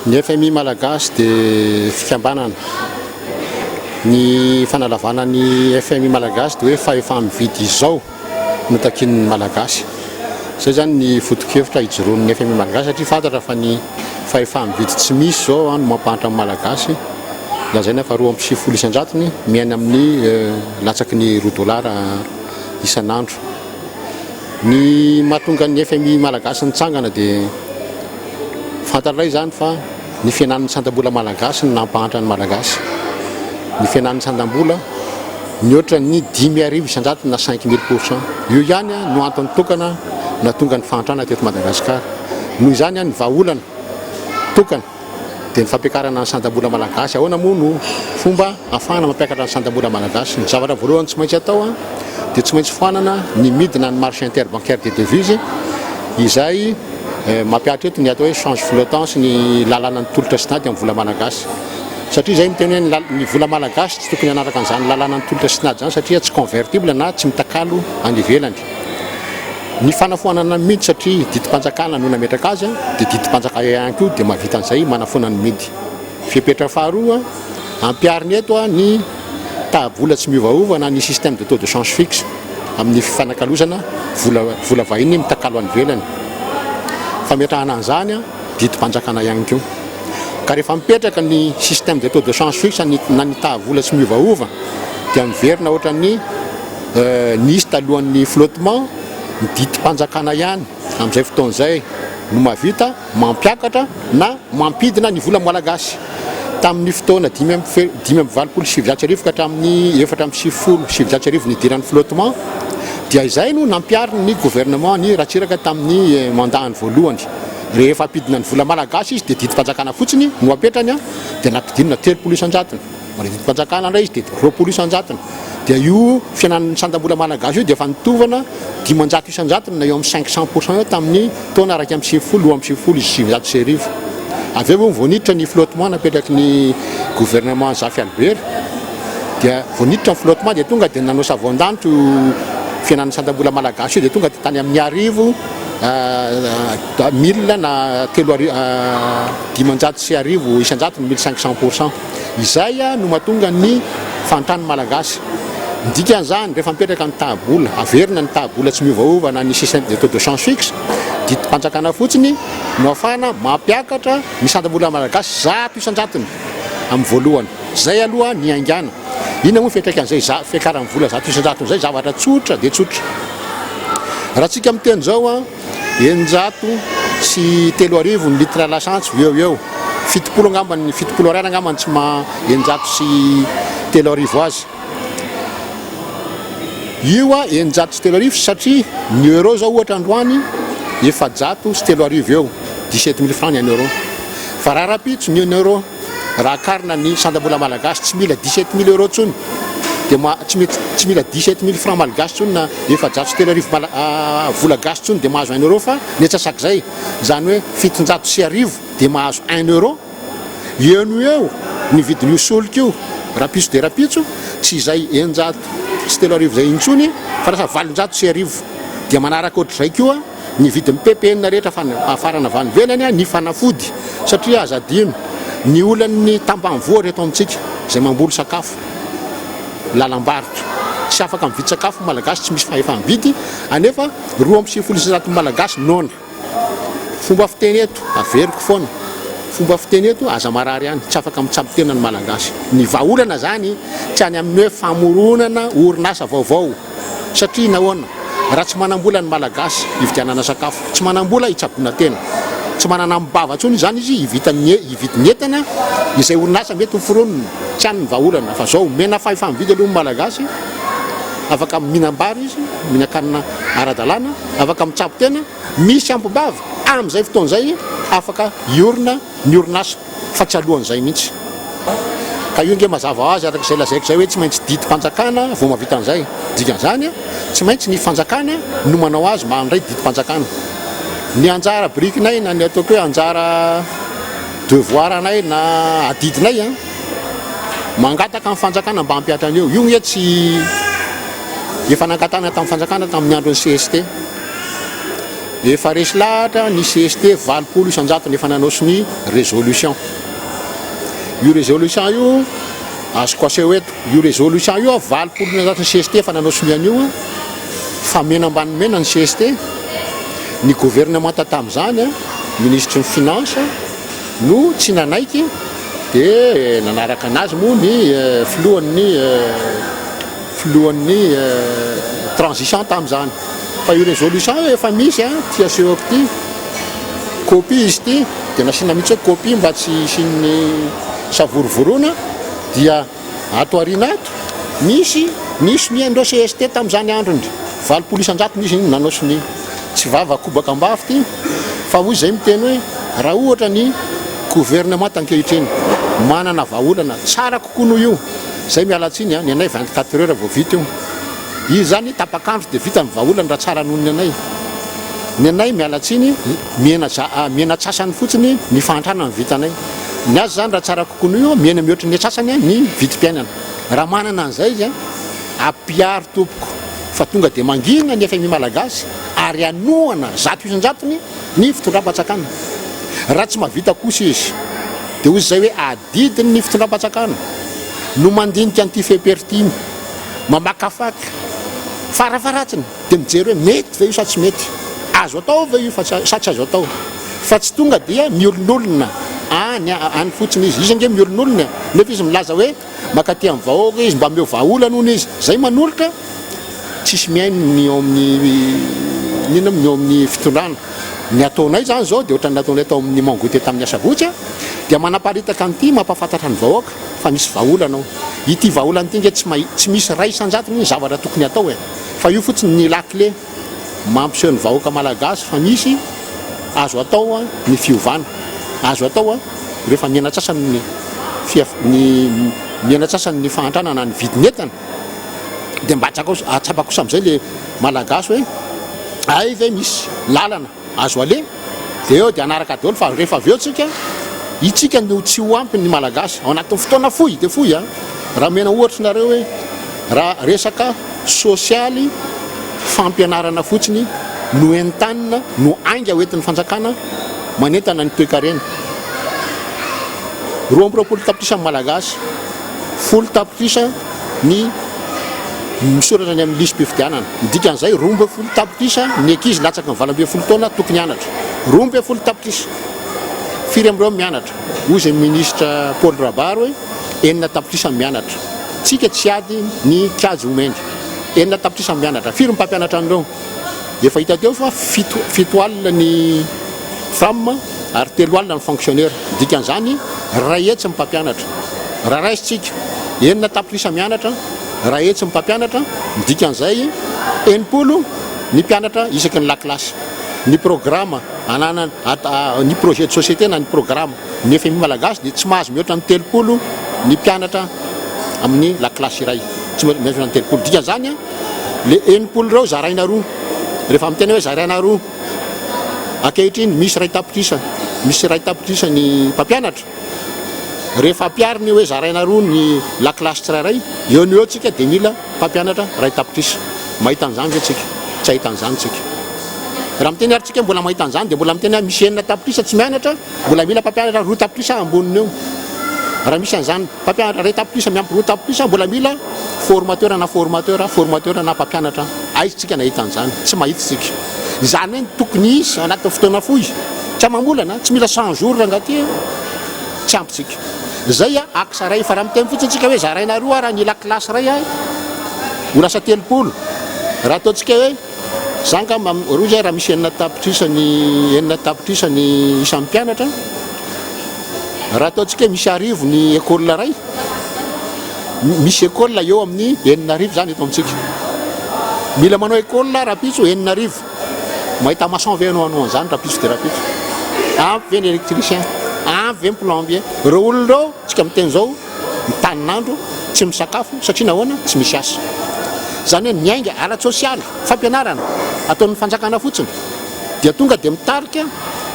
Ny fmi Malagasy dia fikambanana. Ny fanalavana ny fmi Malagasy dia hoe fahefamividy izao no takian'ny Malagasy. Izay izany ny foto-kevitra ijoroan'ny fmi Malagasy satria fantatra fa ny fahefamividy tsy misy izao no mampahantra ny Malagasy. Lazaina fa roa amby sivifolo isan-jatony miaina amin'ny latsaky ny roa dolara isan'andro. Ny mahatonga ny fmi malagasy nitsangana dia fantatr'ilay izany fa ny fihenan'ny santambola malagasy no nampahantra ny malagasy. Ny fihenan'ny santambola nihoatra ny dimy arivo isanjato na cinq mille pour cent. Io ihany no antony tokana nahatonga ny fahantrana teto Madagasikara. Noho izany ny vahaolana tokana dia ny fampiakarana ny sandam-bola malagasy. Ahoana moa no fomba ahafahana mampiakatra ny sandam-bola malagasy? Ny zavatra voalohany tsy maintsy atao dia tsy maintsy foanana ny midina any marché interbancaire des devises izay mampiatra eto ny atao hoe change flottant sy ny lalànan'ny tolotra sy tinady amin'ny vola malagasy. Satria izay miteny hoe ny vola malagasy tsy tokony hanaraka an'izany lalànan'ny tolotra sy tinady izany satria tsy convertible na tsy mitakalo any ivelany. Ny fanafoanana ny midy satria didim-panjakana no nametraka azy dia didim-panjakana ihany koa dia mahavita an'izay manafoana ny midy. Fepetra faharoa, ampiharina eto ny taha-bola tsy miovaova na ny système de taux de change fixe amin'ny fifanakalozana vola vola vahiny mitakalo any ivelany. Fametrahana an'izany didim-panjakana ihany koa. Ka rehefa mipetraka ny système de taux de change fixe na ny taha-vola tsy miovaova dia miverina ohatran'ny. Nisy talohan'ny flottement ny didim-panjakana ihany amin'izay fotoana izay no mahavita mampiakatra na mampidina ny vola malagasy. Tamin'ny fotoana dimy amby dimy amby valopolo sy sivinjato sy arivo ka hatramin'ny efatra amby sivifolo sy sivinjato sy arivo nidiran'ny flottement dia izay no nampiharin'ny gouvernement an'i Ratsiraka tamin'ny mandat-ny voalohany. Rehefa hampidina ny vola malagasy izy dia didim-panjakana fotsiny no apetrany dia nampidinina telopolo isan-jatony. Mandidim-panjakana indray izy dia roapolo isan-jatony. Dia io fihenan'ny sandam-bola malagasy io dia efa nitovana dimanjato isan-jatony na eo amin'ny cinq cent pour cent eo tamin'ny taona iraika amby sivifolo roa amby sivifolo sy sivinjato sy arivo. Avy eo hono vao niditra ny flottement napetraky ny gouvernement Zafy Albert dia vao niditra ny flottement dia tonga dia nanao savoan-danitra io fihenan'ny sandam-bola malagasy io dia tonga dia tany amin'ny arivo mille na telo arivo dimanjato sy arivo isan-jatony, mille cinq cent pour cent. Izay no mahatonga ny fahantran'ny Malagasy. Ny dikan'izany, rehefa mipetraka ny tahabola, averina ny tahabola tsy miovaova na ny système de taux de change fixe, didim-panjakana fotsiny no ahafahana mampiakatra ny sandam-bola Malagasy zato isan-jatony amin'ny voalohany. Izay aloha niaingàna. Inona moa ny fiantraikan'izay za fiakaran'ny vola zato isan-jatony izay? Zavatra tsotra dia tsotra. Raha tsika miteny izao. Eninjato sy telo arivo ny litre lasantsy, eo ho eo fitopolo angamba ny fitopolo Ariary angamba ny tsy maha eninjato sy telo arivo azy. Io a eninjato sy telo arivo satria ny euro zao ohatra androany efajato sy telo arivo eo, dix sept mille francs ny un euro. Fa raha rahampitso ny un euro. Raha akarina ny sandam-bola malagasy tsy mila dix sept mille euros intsony dia ma tsy mety tsy mila dix sept mille francs malgaches intsony na efajato sy telo arivo mala vola gasy intsony dia mahazo un euro fa ny atsasak'izay izany hoe fitonjato sy arivo dia mahazo un euro eo no eo ny vidin'io solika io rapitso dia rapitso tsy izay eninjato sy telo arivo izay intsony fa lasa valonjato sy arivo dia manaraka ohatr'izay koa Ny vidin'ny ppn rehetra afarana avy any ivelany ny fanafody satria aza adino ny olan'ny tambanivohitra eto amintsika izay mamboly sakafo, lalam-barotra. Tsy afaka mividy sakafo ny Malagasy tsy misy fahefa-mividy anefa roa amby sivifolo sy zato Malagasy noana. Fomba fiteny eto, averiko foana, fomba fiteny eto aza marary any, tsy afaka mitsabo tena ny Malagasy. Ny vahaolana izany tsy any amin'ny hoe famoronana orinasa vaovao. satria nahoana raha tsy manambola ny malagasy hividianana sakafo, tsy manambola hitsaboana tena, tsy manana am-bava intsony izany izy hivita ny hividy ny entana izay orinasa mety ho foroniny, tsy any ny vahaolana fa zao omena fahefa mividy aloha ny malagasy, afaka mihinam-bary izy, mihinan-kanina ara-dalàna, afaka mitsabo tena, misy ambo-bava amin'izay fotoana izay afaka hiorina ny orinasa. fa tsy alohan'izay mihitsy. Ka io ange mazava ho azy araka izay lazaiko izay hoe tsy maintsy didim-panjakana vao mahavita an'izay. Dikan'izany, tsy maintsy ny fanjakana no manao azy mba handray didim-panjakana. Ny anjara birikinay na ny ataoko hoe anjara devoiranay na adidinay an, mangataka amin'ny fanjakana mba hampihatra an'io. Io ange tsy efa nangatahana tamin'ny fanjakana tamin'ny andron'ny cst. Efa resy lahatra ny cst valopolo isanjatony efa nanao sy ny resolution. Io resolution io azoko aseho eto. Io resolution io a valopolo isanjatony cst efa nanao sy ny an'io a. Fa mena ambany mena ny cst. Ny gouvernemanta tamin'izany a, minisitry ny finance no tsy nanaiky de nanaraka anazy moa ny filohan'ny filohan'ny transition tamin'izany. Fa io résolution io efa misy an, ity asehoko ity, copie izy ity, dia nasiana mihitsy hoe copie mba tsy hisian'ny savorovoroana, dia ato aoriana ato misy ny sonia an'ireo CST tamin'izany andron'ny valopolo isan-jato nisy ny nanao sonia. Tsy vava kobaka am-bava ity fa hoy izay miteny hoe raha ohatra ny gouvernement ankehitriny manana vahaolana tsara kokoa noho io, izay miala tsiny an, ny anay vingt-quatre heures vao vita io. Izy zany tapaka andro de vita ny vahaolany raha tsara noho ny anay. Ny anay miala tsiny mihena mihena atsasany fotsiny ny fahantrana ny vitanay. Ny azy zany raha tsara kokoa noho io mihena mihoatry ny atsasany ny vidim-piainana. Raha manana an'izay izy ampiharo tompoko fa tonga de mangina ny fmi malagasy ary hanohana zato isan-jatony ny fitondram-pantsakana. Raha tsy mahavita kosa izy de hoy izay hoe adidin'ny fitondram-pantsakana no mandinika an'ity fepetra ity. mamakafaka, farafaharatsiny dia mijery hoe mety ve io sa tsy mety, azo atao ve io sa tsy azo atao, fa tsy tonga dia miolonolona any any fotsiny izy, izy ange miolonolona nefa izy milaza hoe mankaty amin'ny vahoaka izy mba meo vahaolana hono izy, zay manolotra tsisy mihaino ny ao amin'ny inona moa ny ao amin'ny fitondrana, ny ataonay zany zao dia ohatran'ny ataonay tao amin'ny Mangote tamin'ny asabotsy dia manaparitaka an'ity mampahafantatra ny vahoaka. fa misy vahaolana ao. Ity vahaolana ity ange tsy mahi, tsy misy iray isan-jatony ny zavatra tokony hatao e! Fa io fotsiny ny lakile mampiseho ny vahoaka malagasy fa misy azo atao ny fiovana. Azo atao rehefa mihena antsasany ny fiaf, ny mihena antsasany ny fahantrana na ny vidin'entana. Dia mba atsapa kosa amin'izay le malagasy hoe hay ve misy lalana. azo aleha dia eo dia hanaraka daholo fa rehefa avy eo tsika itsika no tsy ho ampy ny malagasy ao anatin'ny fotoana fohy dia fohy an raha omena ohatry nareo hoe raha resaka sosialy fampianarana fotsiny no entanina no ainga hoentin'ny fanjakana manentana ny toekarena roa amby roapolo tapisan'ny malagasy folo tapitrisa ny misoratra any amin'ny lisi-pifidianana. Ny dikan'izay, roa ambin'ny folo tapitrisa ny ankizy latsaky ny valo ambin'ny folo taona tokony hianatra. Roa ambin'ny folo tapitrisa! Firy amin'ireo mianatra? Hoy izay minisitra Paul Rabary hoe, enina tapitrisa ny mianatra. Tsika tsy hiady ny kajy omeny. Enina tapitrisa ny mianatra. Firy ny mpampianatra an'ireo? Efa hita teo fa fito, fito alina ny. Fam, ary telo alina ny fonctionnaire. Dikan'izany, iray hetsy ny mpampianatra. Raha raisintsika, enina tapitrisa mianatra, iray hetsy ny mpampianatra, dikan'izay, enimpolo ny mpianatra isaky ny lakilasy. Ny programa ananany, ny projet de société na ny programa ny fmi malagasy dia tsy mahazo mihoatra ny telopolo ny mpianatra amin'ny lakilasy iray. Tsy maintsy mihoatra ny telopolo. Dikan'izany, ilay enimpolo ireo zaraina roa. Rehefa miteny hoe zaraina roa. Ankehitriny, misy iray tapitrisa, misy iray tapitrisa ny mpampianatra. Rehefa ampiharina io hoe zaraina roa ny lakilasy tsirairay, eo no eo tsika dia mila mpampianatra iray tapitrisa. Mahita an'izany ve tsika? Tsy ahita an'izany tsika. Raha miteny ary tsika mbola mahita an'izany dia mbola miteny hoe misy enina tapitrisa tsy mianatra, mbola mila mpampianatra roa tapitrisa amboniny eo. Raha misy an'izany. Mpampianatra iray tapitrisa miampy roa tapitrisa mbola mila formateur na formateur, formateur na mpampianatra. Aiza isika nahita an'izany? Tsy mahita isika. Izany hoe tokony hisy anatin'ny fotoana fohy. Tsy amam-bolana, tsy mila cent jours ranga aty e! Tsy ampy isika. Izay axe iray. Fa raha miteny fotsiny isika hoe zaraina roa ary nila classe iray aho, ho lasa telopolo. Raha ataontsika hoe. Zany ka mba roa izay raha misy enina tapitrisa ny enina tapitrisa ny isan'ny mpianatra raha ataontsika hoe misy arivo ny école iray misy école eo amin'ny enina arivo zany eto amintsika mila manao école rapitso enina arivo mahita maçon ve ianao hanao an'izany rapitso dia rapitso ampy ve ny électricien ampy ve ny plombier ireo olona ireo tsika miteny izao ny tanin'andro, tsy misakafo satria nahoana? tsy misy asa. Izany hoe miainga ara-tsosialy, fampianarana ataon'ny fanjakana fotsiny dia tonga dia mitarika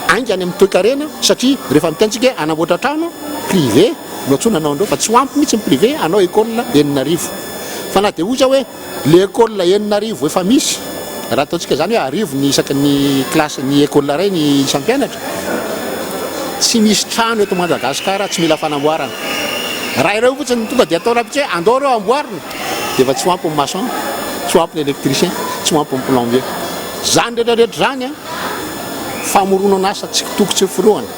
ainga any amin'ny toekarena satria rehefa mitaintsika hoe hanamboatra trano privé no antsoina anao indreo fa tsy ho ampy mihitsy ny privé hanao école enina arivo fa na dia oza hoe Le ecole enina arivo efa misy, raha ataontsika izany hoe arivo ny isaky ny classe ny ecole iray ny isan'ny mpianatra, tsy misy trano eto Madagascar tsy mila fanamboarana. Raha ireo fotsiny no tonga dia atao rahampitso hoe andao ireo amboarina dia efa tsy ho ampy ny maçon, tsy ho ampy ny électricien, tsy ho ampy ny plombier. Izany rehetra rehetra izany an, famoronan'asa tsy toko tsy forohana.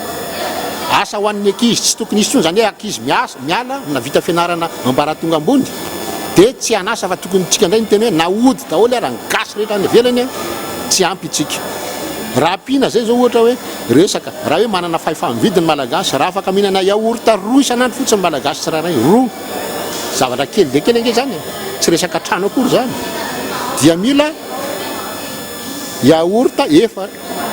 Asa ho an'ny ankizy tsy tokony hisy intsony izany hoe ankizy miasa, miala na vita fianarana ambaratonga ambony. Dia tsy an'asa fa tokony tsika indray miteny hoe naody daholo ary ny gasy rehetra any ivelany tsy ampy tsika. Raha ampiana izay izao ohatra hoe resaka raha hoe manana fahefa-mividy ny malagasy, raha afaka mihinana yaourt roa isan'andro fotsiny ny malagasy tsirairay, roa, zavatra kely dia kely ange izany e, tsy resaka trano akory izany, dia mila yaourt efa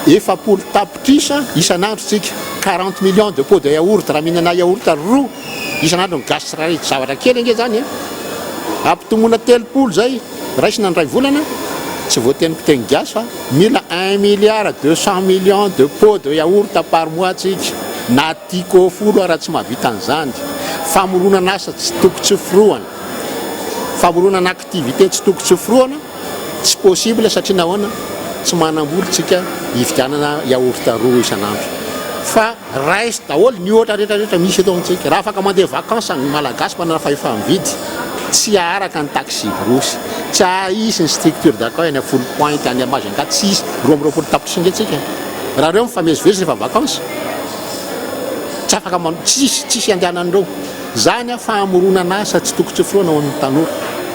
efapolo tapitrisa isan'andro tsika, quarante millions de pots de yaourt raha mihinana yaourt roa, Isan'andro ny gasy tsirairay zavatra kely ange zany e! Ampitomona telopolo zay raisina indray volana, tsy voateny mpiteny gasy fa mila un milliard deux cent millions de pots de yaourt par mois tsika na tiko folo ara tsy mahavita an'izany. Famoronana asa tsy toko tsy forohana, famoronana activité tsy toko tsy forohana tsy possible satria nahoana tsy manambola tsika hividianana yaourt roa isan'andro fa. Raiso daholo ny ohatra rehetra rehetra misy eto amintsika. Raha afaka mandeha vacances ny Malagasy manana fahefa-mividy, tsy haharaka ny taxi-brousse, tsy hahisy ny structure d'accueil any Four Point, any Majunga, tsy hisy roa amby roapolo tapitrisa indray tsika. Raha ireo mifamezivezy rehefa vacances, tsy afaka manao, tsy hisy, tsy hisy handehanan'ireo. Izany fahamoronana asa tsy toko tsy filoha ho an'ny tanora.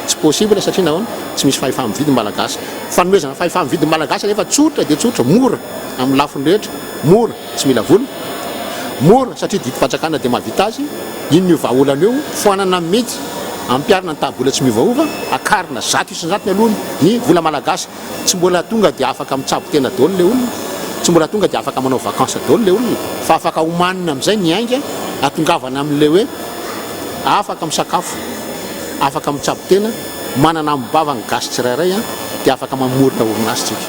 Tsy possible satria nahoana? Tsy misy fahefa-mividy ny Malagasy. Fanomezana fahefa-mividy ny Malagasy anefa tsotra dia tsotra, mora, amin'ny lafiny rehetra, mora. Tsy mila vola. Mora satria didim-panjakana dia mahavita azy. Inona io vahaolana io? Foanana mihitsy. Ampiharina ny taha-bola tsy miovaova. Akarina zato isan-jatony aloha ny vola malagasy. Tsy mbola tonga dia afaka mitsabo tena daholo ilay olona. Tsy mbola tonga dia afaka manao vacances daholo ilay olona. Fa afaka omanina amin'izay ny ainga atongavana amin'ilay hoe afaka misakafo, afaka mitsabo tena, manana amim-bava ny gasy tsirairay dia afaka mamorona orinasa isika.